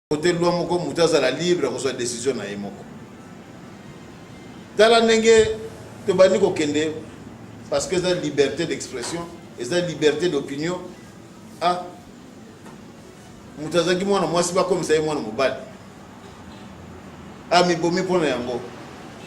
kote loi moko moto azala libre ya kozwa decision na ye moko tala ndenge tobandi kokende parce que eza liberté d'expression eza liberté d'opinion ah moto azalaki mwana mwasi bakomisa ye mwana mobali amibomi ah, mpo na yango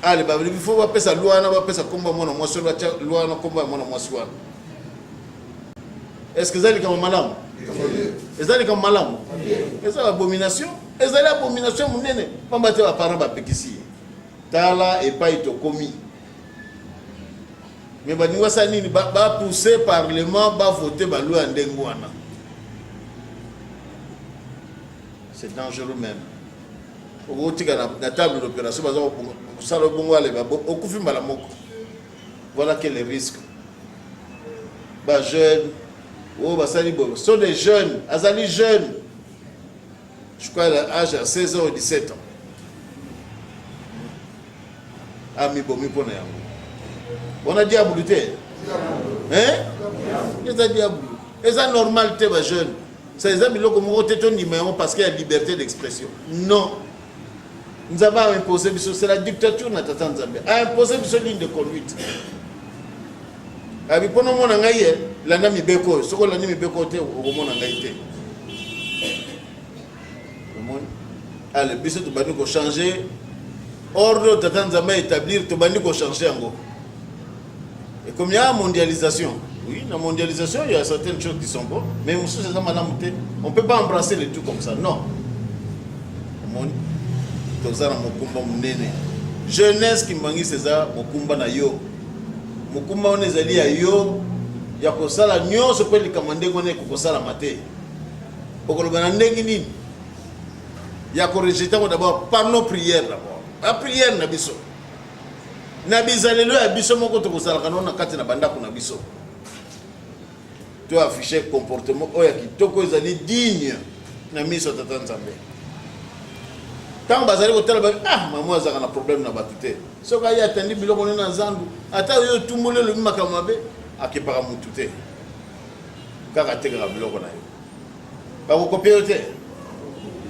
ale ah, balingi fo bapesa lwa wana bapesa nkombo ya mwana mwasi oyo batya lwa wana nkombo ya mwana mwasi wana est ce que eza likambo malamu eza likambo malamu eza abomination ezali abomination monene mpamba te baparent bapekisi ye tala epai tokomi me baningi basala nini bapousse parlement bavote baloi ya ndenge wana c'est dangereux même okotika na table d'opération baza kosala obongo aleba okufi mbala moko Voilà quel est le risque. Ba jeunes, oh basali bobo, sont des jeunes, azali jeunes. Je crois l'âge à 16 ans ou 17 ans. Ami bomi pona yango. On a diable te. Hein? Eza diable. Eza normal te ba jeunes. Ça eza biloko moko te to ndima yango parce qu'il y a liberté d'expression. Non. Nzambe a imposé biso, c'est la dictature na tata Nzambe. A imposé biso ligne de conduite. Abi pono mona ngai ye, landa mibeko oyo. Soko landi mibeko te, okomona ngai te. Omoni? Ale biso tobandi ko changer ordre tata Nzambe a établir, tobandi ko changer yango. ekomi ya mondialisation oui na mondialisation il y a certaines choses qui sont bonnes mais mosusu eza malamu te on peut pas embrasser le tout comme ça non omoni toza na mokumba monene jeunesse kimbangisi eza mokumba na yo mokumba wana ezali ya yo ya kosala nyonso mpe likambo ndenge wana ekokosalama te okoloba na ndenge nini ya korejete yango dabord par nos prière dabord baprière na biso na bizalelo ya biso moko tokozalaka nao na kati na bandako na biso to affiche comportement oyo ya kitoko ezali digne na miso ya tata nzambe ntango bazali kotala ba ah mama azalaka na problème na bato te soki aye atandi biloko nde na zandu ata oyo otumboli olobi makambo mabe akepaka motu te kaka atekaka biloko na ye bakokopie yo te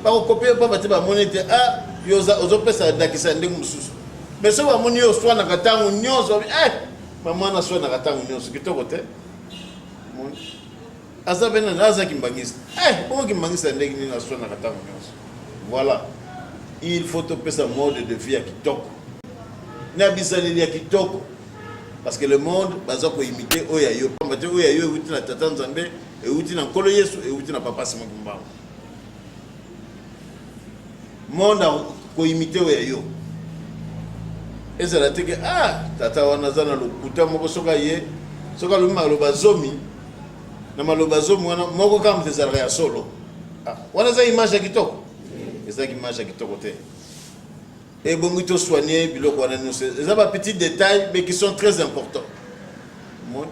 bakokopie yo mpamba te bamoni te a ah, yo ozopesa ndakisa ya ndenge mosusu mais soki bamoni yo oswanaka ntango nyonso e eh, bamwana aswanaka ntango nyonso kitoko te aza mpe nani aza kimbangisi eh, bongo kimbangisi ya ndenge nini aswanaka ntango nyonso voilà il faut topesa mode de vie ya kitoko na bizaleli ya kitoko parce que le monde baza koimite oyo ya yo mpamba te oyo ya yo euti na tata nzambe euti na nkolo yesu euti na papa sima kimbangu monde koimite oyo ya yo ezala teke ah tata wana aza na lokuta moko soki aye soki alobi maloba zomi na maloba zomi wana moko kaka moto ezalaka ya solo ah, wana eza image ya kitoko ezalaki image ya kitoko te ebongi to soigner biloko wana nyonso eza ba petit détail mais qui sont très important omoni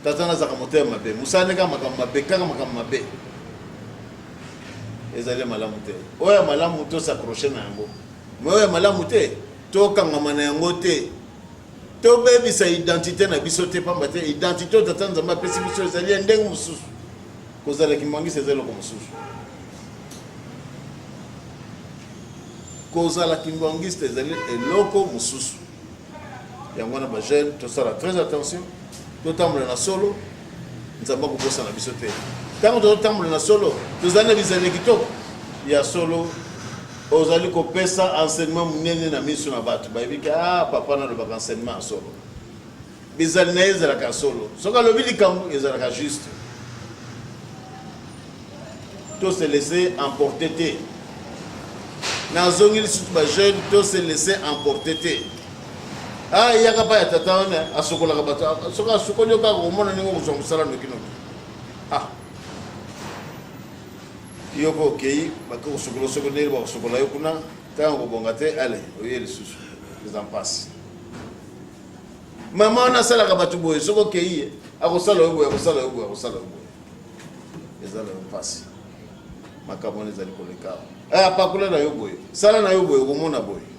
tata nazaka motema mabe mosala nde kaka makambo mabe kaka makambo mabe ezali malamu te oyo ya malamu tosacroche na yango mais oyo ya malamu te tokangama na yango te tobebisa identité na biso te mpamba te identité oyo tata nzambe apesi biso ezali ya ndenge mosusu kozala kimangisi eza eloko mosusu kozala kimbanguiste ezali eloko mosusu yango wana bajeune tosala très attention totambola na solo nzambe akobosana biso te ntango tozotambola na solo tozali na bizaleli kitoko ya solo ozali kopesa enseignement monene na miso na bato bayebiki a ah, papa nalobaka enseignement ya solo Ezali na ye ezalaka ya solo. Soki alobi likambo ezalaka juste. To se laisser emporter te. Nazongeli surtout ba jeunes to se laisser emporter te. Ah, eyaka pa ya tata wana asokolaka bato. Ah, soki asokoli yo kaka komona ndenge okozwa mosala noki noki. Ah. Yo ko okei bako kosokola soki ndenge bakosokola yo kuna ntango kobonga te ale oye lisusu eza mpasi mama wana asalaka bato boye soki okei ye akosala yo boye akosala yo boye akosala yo boye eza na yo mpasi makambo wana ezali koleka awa eh, apakola na yo boye sala na yo boye okomona boye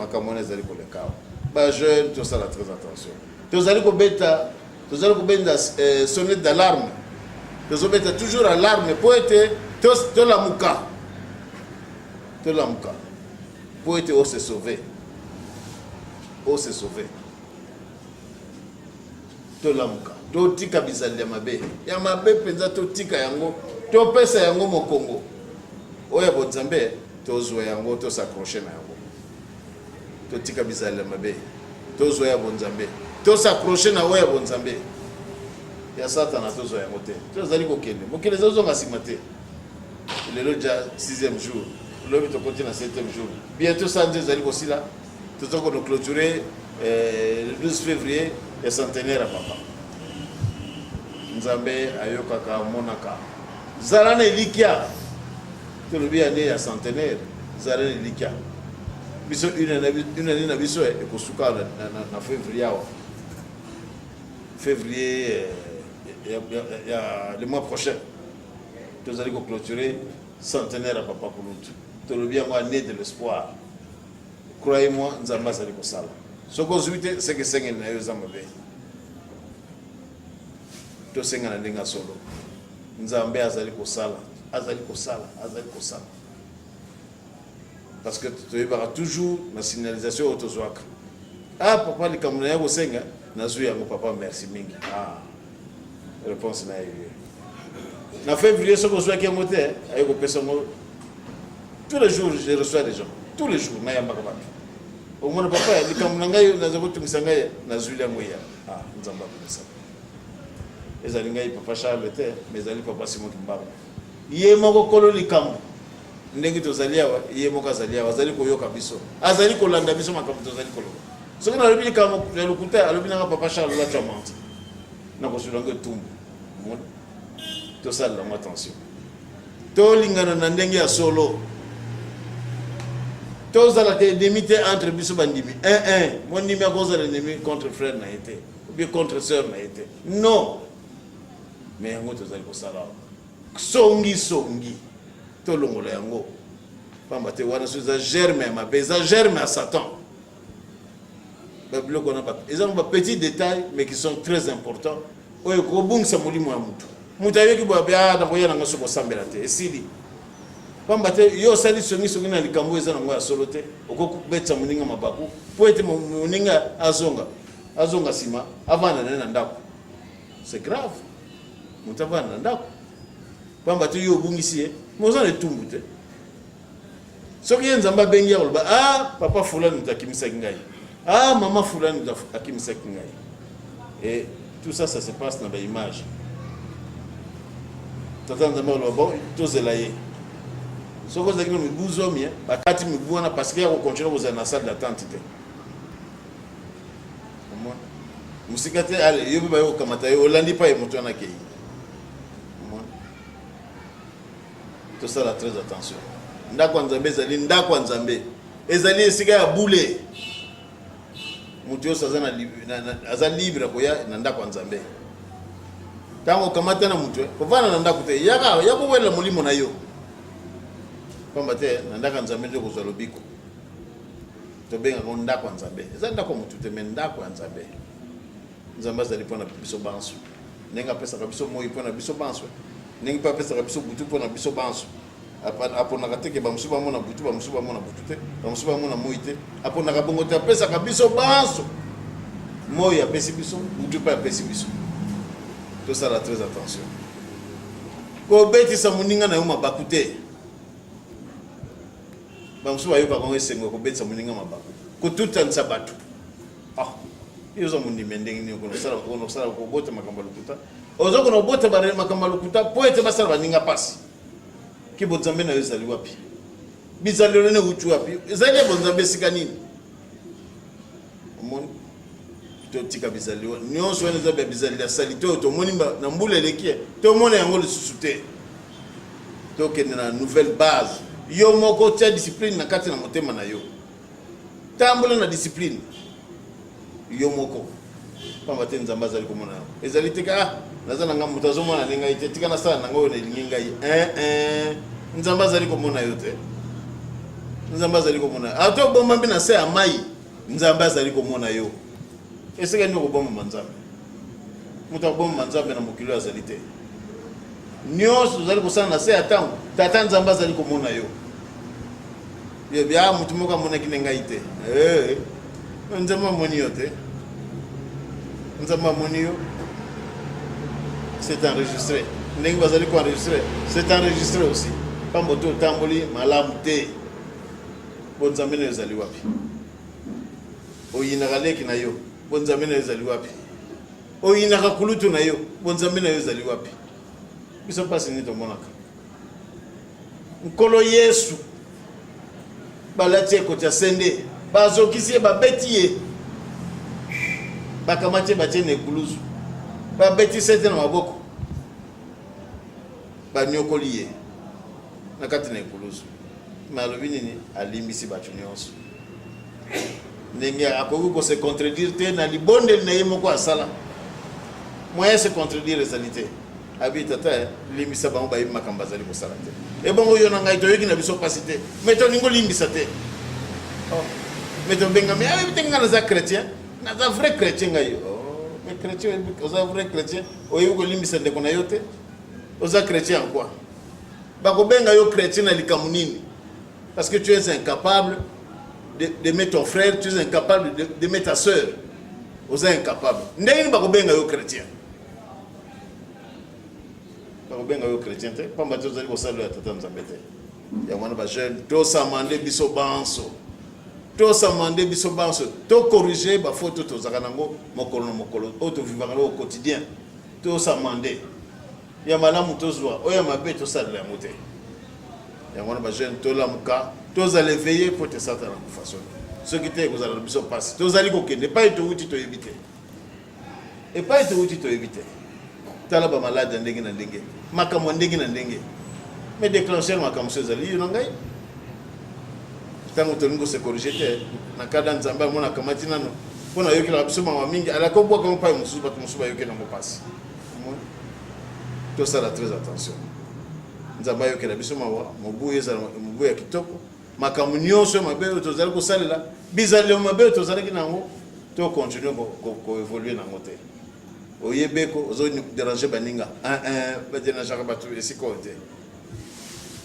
makambo wana ezali koleka awa bajeune tosala très attention tozali kobeta tozali kobenda eh, sonnet d'alarme tozobeta toujours alarme mpo ete tolamuka tolamuka Mpo ete o se sauver. O se sauver. Tolamuka. Totika bizaleli ya mabe. Ya mabe mpenza totika yango. Topesa yango mokongo. Oyo ya bonzambe tozwa yango tosaccroche na yango. Totika bizaleli ya mabe. Tozwa ya bonzambe. Tosaccroche na oyo ya bonzambe. Ya satana tozwa yango te. Tozali kokende. Mokili ezozonga nsima te. lelo ja sixième jour lobi tokoti na septième jour bientôt sanza ezali kosila toza kono clôturer eh, le 12 février ya centenaire ya papa nzambe ayokaka amonaka zala na elikya tolobi ya nde ya centenaire zala na elikya biso une année na biso eh, ekosuka na février awa février eh, ya le mois prochain tozali ko clôturer centenaire ya papa kulutu tolobi yango année de l'espoir croyez moi nzambe azali kosala soki ozwi te seke esengeli na yo eza mabe tosenga na ndenge ya solo nzambe azali kosala azali kosala azali kosala parce que toyebaka toujours na signalisation oyo tozwaka ah papa likambo na ya kosenga nazwi yango papa merci mingi ah réponse na ye na février soki ozwaki yango te aye kopesa yango tous les jours je reçois des gens tous les jours nayambaka bato omona papa likambo na ngai naza kotungisa ngai nazwi yango ya ah, nzambe akomisa ezali ngai papa charles te mais ezali papa simon kimbangu ye moko kolo likambo ndenge tozali awa ye moko azali awa azali koyoka biso azali kolanda biso makambo tozali koloba soki nalobi likambo ya lokuta alobi nanga papa charles latu amante nakozwila yango etumbu tosalela yango attention tolingana na ndenge ya solo tozala te endemi te entre biso bandimi un eh, un eh, mondimi akozala endemi contre frère na ye te obie contre sœur na ye te non mais yango tozali kosala awa songi songi tolongola yango pamba te wana so eza germe ya mabe eza germe ya satan babiloko wana eza ba petit détail mais qui sont très important oyo ekobungisa molimo ya motu moto ayoki boya be ah, nakoya nanga soki osambela te esili pamba te yo osali songisongi na likambo eza nango ya solo te okoki kobetisa moninga mabaku mpo ete moninga azonga azonga nsima avanda naye na ndako C'est grave. Moto avanda na ndako. Pamba te yo obungisi ye, mais oza na etumbu te. Soki ye Nzambe abengi ya koloba, ah papa fulani moto akimisaki ngai. Ah mama fulani moto akimisaki ngai. Et tout ça ça se passe na ba image. Tata Nzambe aloba bon tozela ye. Soki ozalaki na mibu zomi, bakati mibu wana parce que ya kokontinue kozala na salle d'attente te. mosika te yo mpe baye kokamata yo olandi mpa ye moto wana akei tosala très attention ndako ya nzambe ezali ndako ya nzambe ezali esika ya bule moto nyonso aza libre akoya na ndako ya nzambe ntango okamata na moto kovanda na ndako te yaka ya kowelela molimo na yo mpamba te na ndako ya nzambe nde okozwa lobiko Tobenga yango ndako ya Nzambe. Eza ndako ya motu te, me ndako ya Nzambe. Nzambe azali mpo na biso banso. Ndenge apesaka biso moi mpo na biso banso, ndenge mpe apesaka biso butu mpo na biso banso. Aponaka te ke bamosusu bamona butu, bamosusu bamona butu te, bamosusu bamona moi te. Aponaka bongo te, apesaka biso banso. Moi apesi biso, butu mpe apesi biso. Tosala très attention. Kobetisa moninga na yo mabaku te. Bamosusu bayokaka yango esengo ya kobetisa moninga mabaku, kotutanisa bato. Ah, yo oza mondimi ndenge nini okosala kobota makambo ya lokuta? Oza kona kobota makambo ya lokuta mpo ete basala baninga mpasi. Ke bonzambe na yo ezali wapi? Bizalelo na euti wapi? Ezali ya bonzambe esika nini? omoni totika bizali wana nyonso wana eza bya bizali ya salite oyo tomoni na mbula eleki tomona yango lisusu te tokende na nouvelle base yo moko tia discipline na kati na motema na yo tambola na discipline yo moko pamba te nzambe azali komona yango ezali te ka ah, naza na ngai moto azomona nde ngai te tika nasala na ngai oyo nalingi ngai eh, eh. nzambe azali komona yo te nzambe azali komona ata obomba mpe na se ya mai Nzambe azali komona yo. Esika nini okobomama Nzambe? Moto akobomama Nzambe na mokili oyo azali te. Nyonso ozali kosala na se ya ntango, Tata Nzambe azali komona yo. Bia moto moko amonaki na ngai te. Hey, eh, eh. Nzambe amoni yo te. Nzambe amoni yo. C'est enregistré. ndenge bazali koenregistre c'est enregistre aussi pambo te otamboli malamu te Bo nzambe na yo ezali wapi? Oyinaka leki na yo, bo nzambe na yo ezali wapi? Oyinaka kulutu na yo, bo nzambe na yo ezali wapi? Biso mpasi nini tomonaka? Nkolo Yesu balati ekoti ya sende, bazokisi ye, babeti ye, bakamati ye batie na ekuluzu, babeti sete na maboko, banyokoli ye na kati na ekuluzu. Mais alobi nini alimbisi bato nyonso ndenge akoki ko se contredire te na libondeli na ye moko asala moyen se contredire ezali te abi tata eh, limbisa bango bayebi makambo azali kosala te ebongo yo na ngai toyoki na biso mpasi te mai tolingi olimbisa te oh, mai tobengami ayebi ah, te ngai naza chrétien naza vrai chrétien ngai oh, mais chrétien oza vrai chrétien oyebi kolimbisa ndeko na yo te oza chrétien en quoi Bakobenga yo chrétien na likambo nini? Parce que tu es incapable d'aimer ton frère, tu es incapable d'aimer ta sœur. Oza incapable. Ndenge nini bakobenga yo chrétien? Bakobenga yo chrétien te, pamba te ozali kosalela ya tata Nzambe te. Yango wana ba jeune tosama nde biso banso tosama nde biso banso tokorige bafaute tozalaka nango mokolo na mokolo oyo tovivaka nango au quotidien tosama nde ya malamu tozwa oyo ya mabe tosalela yango te yango wana bajeune tolamuka tozala eveille mpo te satana kufa soni soki te ekozala na biso mpasi tozali kokende epai towuti toyebi te epai towuti toyebi te tala bamaladi ya ndenge na ndenge makambo ya ndenge na ndenge me déclencher makambo so ezali yo na ngai ntango tolingi kosekorige te na kada nzambe amonaka mati nano mpo nayokelaka biso mawa mingi alaki obwaka yango mpai mosusu bato mosusu bayokelaka mpasi tosala très attention nzambe ayokela biso mawa mobu ezala mobu ya kitoko makambo nyonso ya mabe oyo tozali kosalela bizalelo mabe oyo tozalaki na yango tokontinue koevolue na yango te oyebeko ozoderange baninga ah, ah, baderangeaka bato esika oyo te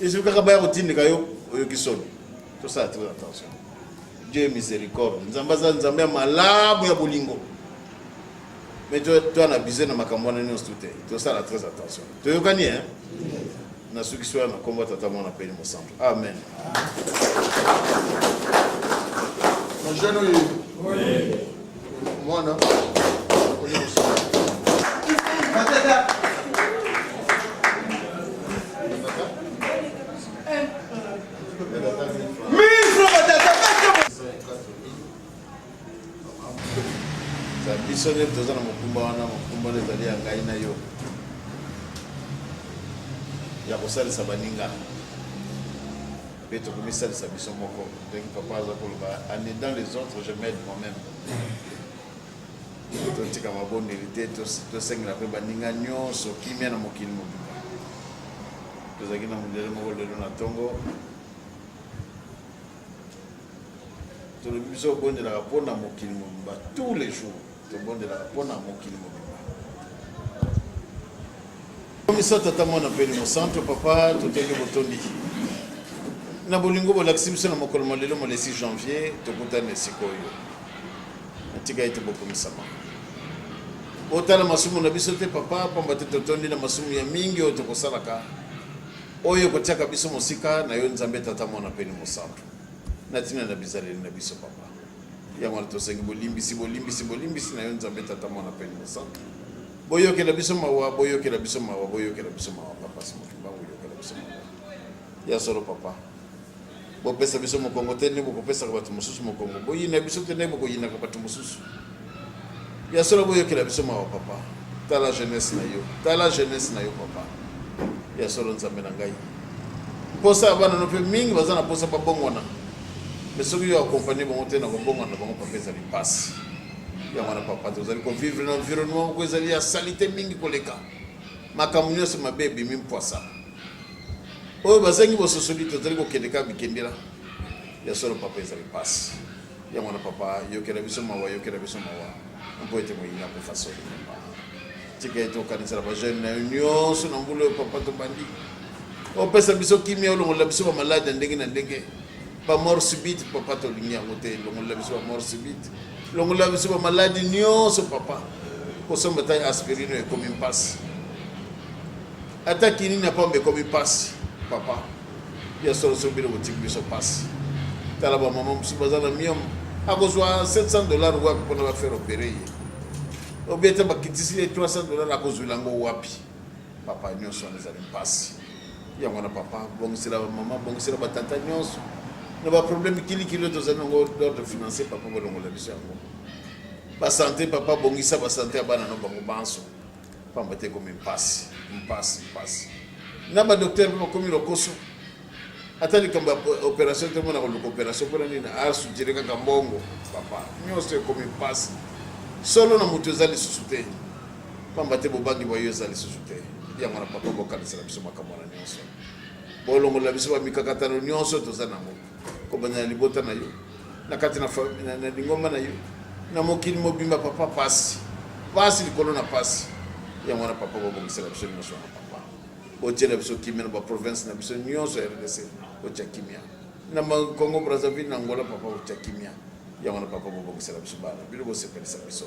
ezwi kaka baya kotindika yo oyoki soni tosala très attention dieu miséricorde nzambe aza nzambe ya malamu ya bolingo mais toi toi na bise na makambo wana nyonso tout te tosala très attention toyokani hein nasukisi wana na nkombo ya tata mwana mpeni mosantu amen jeune oyo mwana biso nde toza na mokumba wana mokumba nde ezali ya ngai na yo ya kosalisa baninga mpe tokomisalisa biso moko ndenge papa aza koloba ane dans les autres je made moi-même totika mabondeli te tosengela mpe baninga nyonso kimia na mokili mobimba tozalaki na mondele moko lelo na ntongo tolobi biso obondelaka mpo na mokili mobimba tous les jours tobondelaka mpo na mokili mobimba komisa tata mwana mpe elimo santo papa totondi botondi na bolingo bolakisi biso na mokolo ma lelo molesi janvier tokutani esika oyo natika ete bokumisama otala masumu na biso te papa mpamba te totondi na masumu ya mingi oyo tokosalaka oyo ekotiaka biso mosika na yo nzambe tata mwana mpe elimo santo na ntina na bizaleli na biso papa yango wana tosengi bolimbisi bolimbisi bolimbisi na yo nzambe tata mwana mpe mosantu boyokela biso mawa boyokela biso mawa boyokela biso mawa papa simokiba boyokela biso mawa ya solo papa bopesa biso mokongo te nde bokopesaka bato mosusu mokongo boyina biso te nde bokoyinaka bato mosusu Ya solo boyokela biso mawa papa. Tala jeunesse na yo. Tala jeunesse na yo papa. Ya solo nzambe na ngai. Posa ya bana no pe mingi baza na posa babongwana. Mais soki yo accompagner bango te na kobongwana na bango papa ezali pasi. Yango wana papa tozali kovivre na environnement moko ezali ya salite mingi koleka. Makambo nyonso mabe ebimi mpwasa. oyo bazangi bososoli tozali kokende kaka bikendela ya solo papa ezali mpasi Yango wana papa, yokela biso mawa, yokela biso mawa mpo ete moyini akufa soni. Tika ete okanisela bajeune na yo nyonso na mbula oyo papa tobandi opesa biso kimia, olongolela biso bamaladi ya ndenge na ndenge, bamort subite papa, tolingi yango te. Longolela biso bamort subite, longolela biso bamaladi nyonso papa. Kosomba ta aspirine ekomi mpasi, ata kinini ya pamba ekomi mpasi papa. Ya solo solo bino botiki biso pasi. Tala ba maman mususu baza na miom. Akozwa 700 dollars wapi pona ba faire opérer ye. Obieta bakitisi ye 300 dollars akozwila ngo wapi. Papa nyonso wana ezali pasi. Yango wana papa bongisela ba maman bongisela ba tata nyonso. Na ba problème kili kilo tozali ngo d'ordre financier papa bolongola biso yango. Ba santé papa bongisa ba santé ya bana no bango banso. Pamba te ekomi mpasi, mpasi, mpasi. Na ba docteur mpe bakomi lokoso. Ata likambo ya operation te mona koluka operation mpona nini asutire kaka mbongo. Papa, nyonso ekomi mpasi. Solo na moto eza lisusu te. Pamba te bobangi bwa yo eza lisusu te. Yango na papa bokanisela biso makambo wana nyonso. Bolongolela biso ba mikakatano nyonso toza nango. kobanda na libota na yo na kati na, na, na lingomba na yo na mokili mobimba papa pasi pasi likolo na pasi yango wana papa bobongisela biso nyonso wana papa otyela biso kimia na baprovince na biso nyonso ya rdc otya kimia na congo brazzaville na angola papa otya kimia yango wana papa bobongisela biso bana bino bosepelisa biso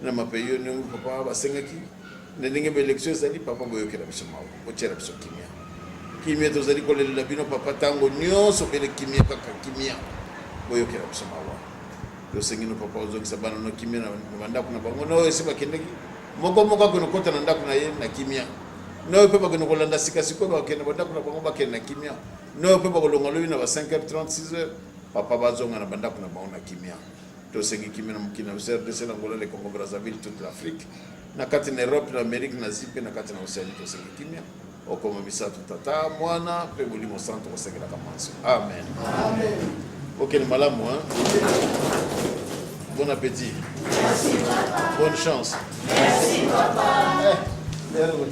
na mapayi yo ndenge papa basengaki na ndenge ba élection ezali papa boyokela biso mawa botyela biso kimia kimia tozali kolelela bino papa ntango nyonso bele kimia kaka kimia boyokela biso mawa tosengi no papa ozongisa bana no kimia na bandako na bango na oyo esi bakendeki moko moko akende kota na ndako na ye na kimia na oyo mpe bakende kolanda sika sikoyo bakende bandako na bango bakende na kimia na oyo mpe bakolonga lobi na ba 5 h 36 heures papa bazonga na bandako na bango na kimia Tosengi kimia na mokili na biso RDC, na Angola, le Congo Brazzaville, toute l'Afrique, na kati na Europe, na Amerique, na Asie mpe na kati na Oceanie. Tosengi kimia okoma misato, Tata, Mwana mpe Molimo Santo, kosengelaka manso. Amen, amen. Bokende malamu, hein? Bon appétit. Merci, papa. Bonne chance. Merci, papa. Eh,